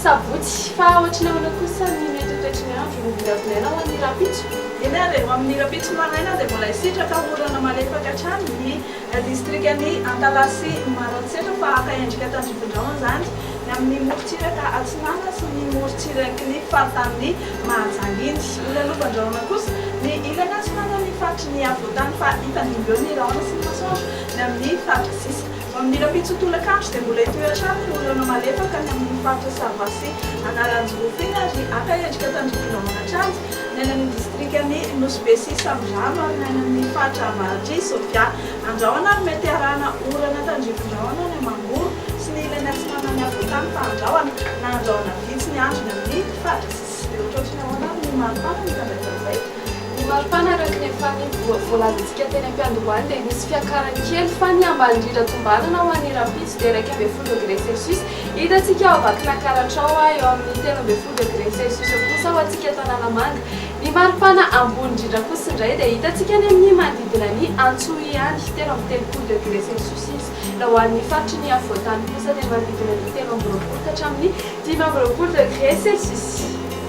Sabotsy, fa ohatry ny ahoana kosa ny mety ho toetry ny andro no vinavinana ho an'ny rahampitso? Eny ary, ho amin'ny rahampitso maraina dia mbola hisitraka orana malefaka hatrany ny distrikan'i Antalaha sy Maroantsetra fa haka endrika tandrifindrao izany ny amin'ny morontsiraka Atsinanana sy ny morontsirak'iny faritanin'i Mahajanga iny. Ho lalovan-drahona kosa ny ilany atsinanan'ny faritry ny afovoantany fa hitandimby eo ny rahona sy ny masoandro ny amin'ny faritra sisa. Amin'ny rahampitso tolakandro dia mbola hitohy hatrany ny orana malefaka any amin'ny faritra Sava sy Analanjirofo iny ary haka endrika tandrifina ao Anatranja, ny any amin'ny distrikan'i Nosy Be sy Samborano ary ny any amin'ny faritra avaratr'i Sofia. Andrahona ary mety harahana orana tandrifin-drahona any Amangoro sy ny ilany atsinanan'i Afovoantany fa andrahona na andrahona vitsy ny andro ny amin'ny faritra sisisby. Ohatrohatry ny ahoana ary ny maripana mifandraika amin'izay? Ny maripana araka ny efa voalazantsika teny am-piandohany dia misy fiakarany kely fa ny ambany indrindra tombanana ho an'ny rahampitso dia iraika ambin'ny folo degré celsius hitantsika ao Vakinankaratra ao eo amin'ny telo ambin'ny folo degré celsius eo kosa ho antsika eto Analamanga ny maripana ambony indrindra kosa indray dia hitantsika any amin'ny manodidina ny Antsohiany telo amby telopolo degré celsius izy raha ho an'ny faritry ny afovoantany kosa dia manodidina ny telo amby roapolo ka hatramin'ny dimy amby roapolo degré celsius.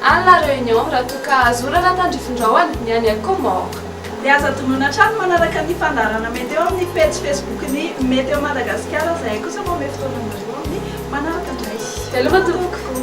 Any La Réunion raha toa ka azo orana tandrifindraony ny any à Comores. Dia aza adinoina hatrany manaraka ny fandaharana mety eo amin'ny pejy Facebook-n'ny Météo Madagasikara izahay kosa manome fotoana anareo amin'ny manaraka indray. Veloma tompoko.